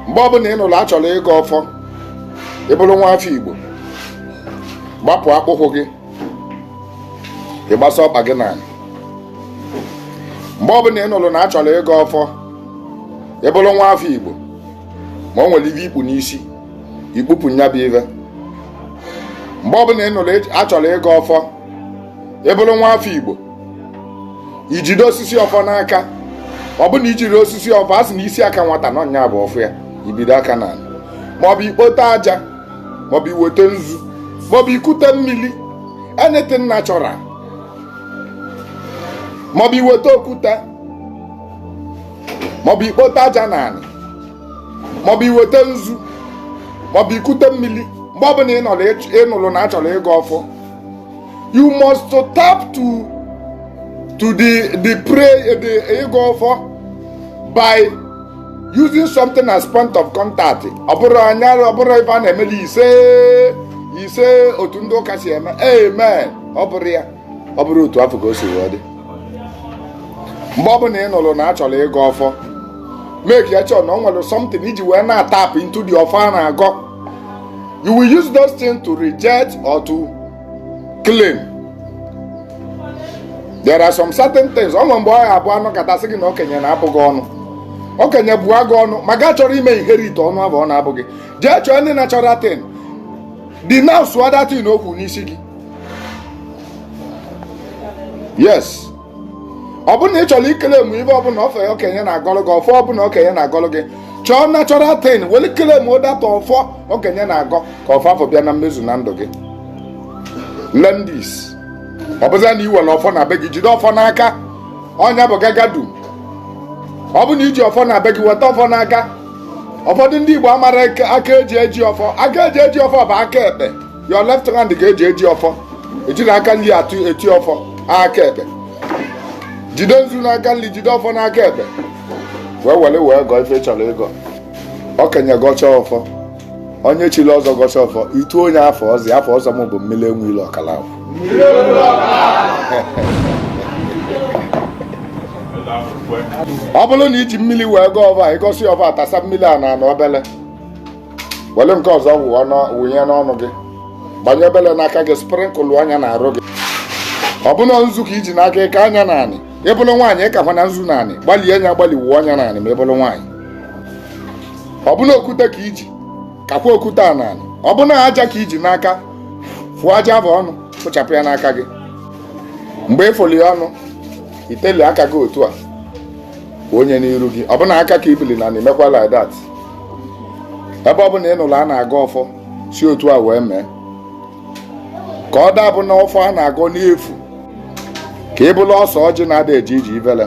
mgbe ọbụla ị nụrụ a chọrọ ịgọ ọfọ ị bụrụ nwa afọ Igbo gbapụ akpụkwụ gị ị gbasa ọkpa gị n'anị mgbe ọbụla ị nụrụ na a chọrọ ịgọ ọfọ ị bụrụ nwa afọ Igbo ma o nwere ive i kpu n'isi i kpupụ nya bụ ive mgbe ọbụla ị nụrụ a chọrọ ịgọ ọfọ ị bụrụ nwa afọ Igbo ijide osisi ọfọ n'aka ọ bụ na ijiro osisi ọfọ a sị na isi aka nwata nọ nya bụ ọfọ ya ibido aka na anị maọbụ ikpote aja maọbụ iweta nzu maọbụ ikute mmiri anything natural maọbụ iweta okwute maọbụ ikpote aja na anị maọbụ iweta nzu maọbụ ikute mmiri mgbe ọbụla ị nụrụ na achọrọ ịgọ ọfọ you must to tap to to the the pray the ịgọ ọfọ by using something as point of contact ọ bụrọ nya ọ bụrọ ife a na-emeli ise ise otu ndị ụka si eme amen ọ bụrọ ya ọ bụrọ otu afụ ka o si wee dị mgbe ọ bụla ị nụrụ na a chọrọ ịgọ ọfọ make ya sure na o nwere something iji wee na-atap into the ọfọ a na-agọ You will use those things to reject or to claim. There are some certain things. O nwere mgbe ọ ya-abụ a nọkata sị gị na okenye na-abụ gị ọnụ. Okenye bụa gị ọnụ ma gị achọrọ ime inherit ọnụ afụ ọ na-abụ gị. Jee chọọ ndị natural thing. Denounce that thing okwu n'isi gị. Yes. ọ bụrụ na ị chọrọ iclaim ive ọbụla ọfọ okenye na-agọlụ gị ọfọ ọbụla okenye na-agọlụ gị chọọ natural thing weli claimụọ that ọfọ okenye na-agọ ka ọfọ afụ bịa na mmezu na ndụ gị learn this ọ bụzi na i nwere ọfọ na be gị jide ọfọ n'aka ọ nya bụ gagadu ọ bụ na iji ọfọ na be gị weta ọfọ n'aka ụfọdụ ndị Igbo amarọ aka eji eji ọfọ aka eji eji ọfọ bụ aka ekpe your left hand ka eji eji ọfọ ejiro aka nri atụ eti ọfọ aka ekpe jide nzu n'aka nri jide ọfọ n'aka ekpe wee were wee gọọ ife ị chọrọ ịgọ okenye gọcha ọfọ onye chiri ọzọ gọcha ọfọ i tuo nya afa ọzọ afa ọzọ m bụ mmiri enwe ilo ọkala ahụ ọ bụrụ na iji mmiri wee gọọ ọfọ ị gọsịa ọfọ atasa mmiri a na anị obele were nke ọzọ wụnye n'ọnụ gị gbanye obele n'aka gị sprinkle nya na arụ gị ọ bụ na nzu ka iji n'aka ị kaa nya na anị ị bụrụ nwaanyị ị kakwana nzu na anị gbalie nya gbalị wuo nya na anị ma ị bụrụ nwaanyị ọ bụ na okwute ka iji kakwa okwute a na anị ọ bụ na aja ka iji n'aka fụọ aja afụ ọnụ fụchapụ ya n'aka gị mgbe ị fụli ọnụ iteli aka gị otu a onye n'iru gị ọ bụna aka ka ibili na na-emekwa like that ebe ọ bụna ị nụrụ a na-agọ ọfọ si otu a wee mee ka ọ dabụ na ọfọ a na-agọ n'efu ka ị bụla ọsọ ọjị na-ada eji iji ivele